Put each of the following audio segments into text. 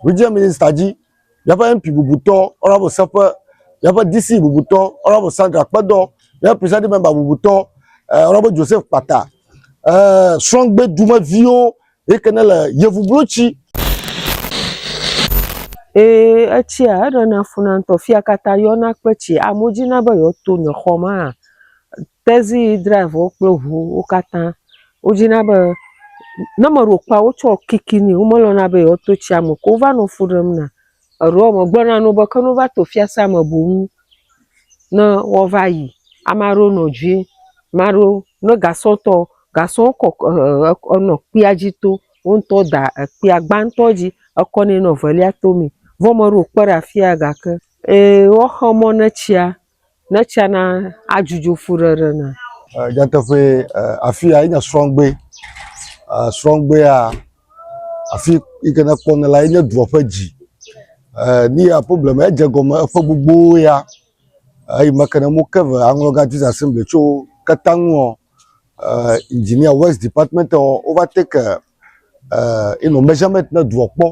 Regional Minister dzi, míaƒe MP bubutɔ Honourable Seƒe, míaƒe DC bubutɔ Honourable Sandra Kpedɔ, míaƒe Presiding Member bubutɔ eh, Honourable Joseph Kpata, eh, srɔ̃gbe dumeviwo yi ke ne le Yevublotsi Ee, etsia eɖena funa ŋutɔ. Fia katã yɔna kple tsi. Amewo dzina be yewoato nye xɔ ma. tezi drive wo kple ŋuwo wo katã wodzina be ne meɖe wokpɔa wotsɔ kiki nɛ womelɔ̃na be yewoato tsia me o ke wova nɔ fu ɖem na. Eɖewo megblɔna na wo be ke ne wova to fiasea me boŋ ne woava yi. Ame aɖewo nɔ dzi ame aɖewo ne gasɔ tɔ gasɔ kɔ e enɔ kpea dzi tom wo ŋutɔ da ekpea gbãtɔ dzi ekɔ nɛ nɔ evelia tomee vɔ meɖe wokpe ɖe afia gake e woaxe mɔ ne tsia ne tsia na adzudzo fuɖeɖe na. Eh, nyateƒe eh, afi ya enye srɔ̃gbe eh, srɔ̃gbea afi yi ke nekpɔna la enye dua ƒe dzi ni ya problem edze gɔme eƒe gbogbo ya eyi me ke ne mo ke ve aŋlɔga jesus assembly tso ketaŋuɔ engineer west department ɔ wova take ino measurement ne dua kpɔ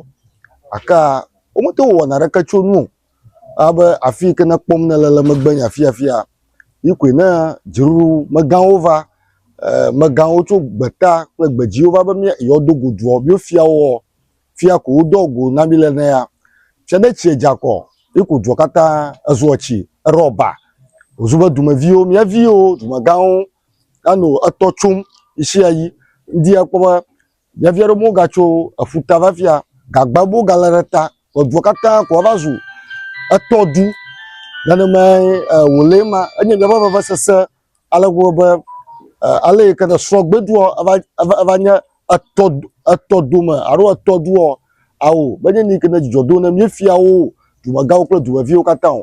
aka womete wɔna ɖeke tso nu o alebe afi yi ke ne ekpɔm nele le megbe nye afiafia, yi koe ne dziɖuɖumegãwo va, megãwo tso gbeta kple gbedziwo va be yewoado go doa, míefia wo ɔ, fia ko wodoa wo go na mí le ne ya. Fia ne tsie dze akɔ ye ko dua katã ezua tsi, eɖɔ ba, wòzu be dumeviwo, mía viwo, dumegãwo anɔ etɔ tsom ɣeshiaɣi. Ŋdi akpɔ be. Mía via ɖewo megatso eƒuta va fia, gagba bubu galé ɖe ta, edua katã ko wova zu etɔ du, nenemae wòle ema, enye míaƒe vevesese ale gbegbe be ale yi ke ne srɔ̃gbedua eva nye etɔ etɔ dome alo etɔ dua, ao, menye nu yi ke ne dzidzɔ dom na míefiawo, dumegãwo kple dumeviwo katã o.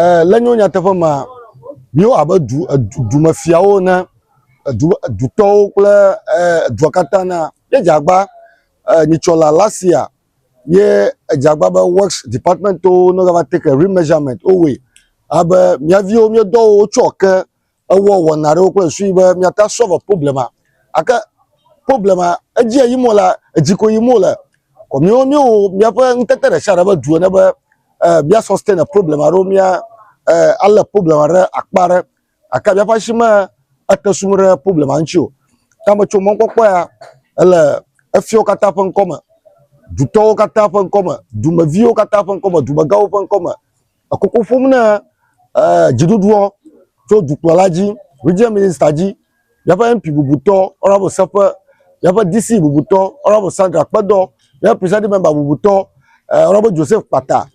Eh, le nyo nyateƒe ma, míwo abe du, edu, dumefiawo ne, edu, edutɔwo kple eh, edua katã na, ye dzagba eh, nyitsɔla Lasia ye edzagba be works department wo no va take remeasurement wo wɔe abe mía viwo míedɔ wo wotsɔ ke ewɔ wɔna aɖewo kple susu be míate ŋu asɔlve problema. Gake problema edzia yim wole, edzi ko yim wole. Kɔ míwo míewɔ míaƒe ŋutete ɖe sia ɖe ƒe du ene be eh, mía sustain problema aɖewo, mía eh, alé problema ɖe akpa aɖe. Gake míaƒe asi me ete sum ɖe problema ŋuti o. Ta metso mɔkpɔkpɔ ya ele efiawo katã ƒe ŋkɔ me, dutɔwo katã ƒe ŋkɔ me, dumeviwo katã ƒe ŋkɔ me, dumegãwo ƒe ŋkɔ me, Ekoko ƒom na eer dziɖuɖuɔ tso dukplɔla dzi, Regional Minista dzi, míaƒe MP bubutɔ, Honourable Seƒe, míaƒe DC bubutɔ, Honourable Sandra Kpedɔ, míaƒe Presiding Member bubutɔ, eer Honourable Joseph Kpata,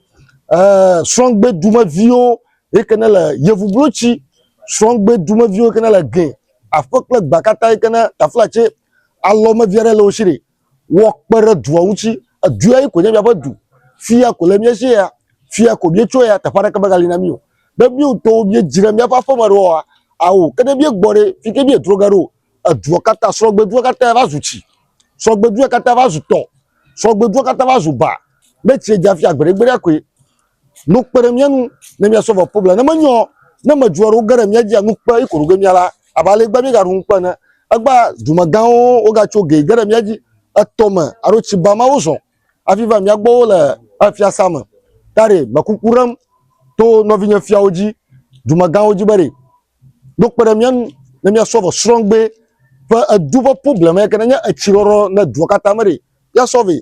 eer srɔ̃gbe dumeviwo yi ke ne le Yevublotsi, srɔ̃gbe dumeviwo yi ke ne le Gɛ, aƒe kple gbea katã yi ke ne Taflatse alɔmevi aɖe le wo si ɖe. woakpe ɖe dua ŋuti. Edua ye ko nye míaƒe du. Fia ko le mía si ya. Fia ko míetsoe ya. Teƒe aɖeke megali na mí o. Ne mía ŋutɔwo míedzi ɖe míaƒe aƒeme ɖe oa, ao. Ke ne míegbɔ ɖe, fi ke míedro ge ɖo o, edua katã, srɔ̃gbedua katã va zu tsi. Srɔ̃gbedua katã va zu tɔ. Srɔ̃gbedua katã va zu ba. Ne tsia dza fia gbeɖegbeɖea koe. Nu kpe ɖe mía ŋu ne míasɔ vɔ problem. Ne menye o, ne amedzro aɖewo ge ɖe mía dzia, nu kpe eko ɖoge mía la, abe ale gbea míegaɖu ŋukpe ene. Egbea dumegãwo wogatso ge ge ɖe mía dzi, etɔ me alo tsi ba ma wozɔ hafi va mía gbɔ wole fiasã me. Ta ɖe mekuku ɖem to nɔvinye fiawo dzi, dumegãwo dzi be ɖe no kpe ɖe mía ŋu ne míasɔ vɔ srɔ̃gbe ƒe edu ƒe problem yake nenye etsi ɖɔɖɔ ne dua katã me ɖe, ya sɔ vɛ.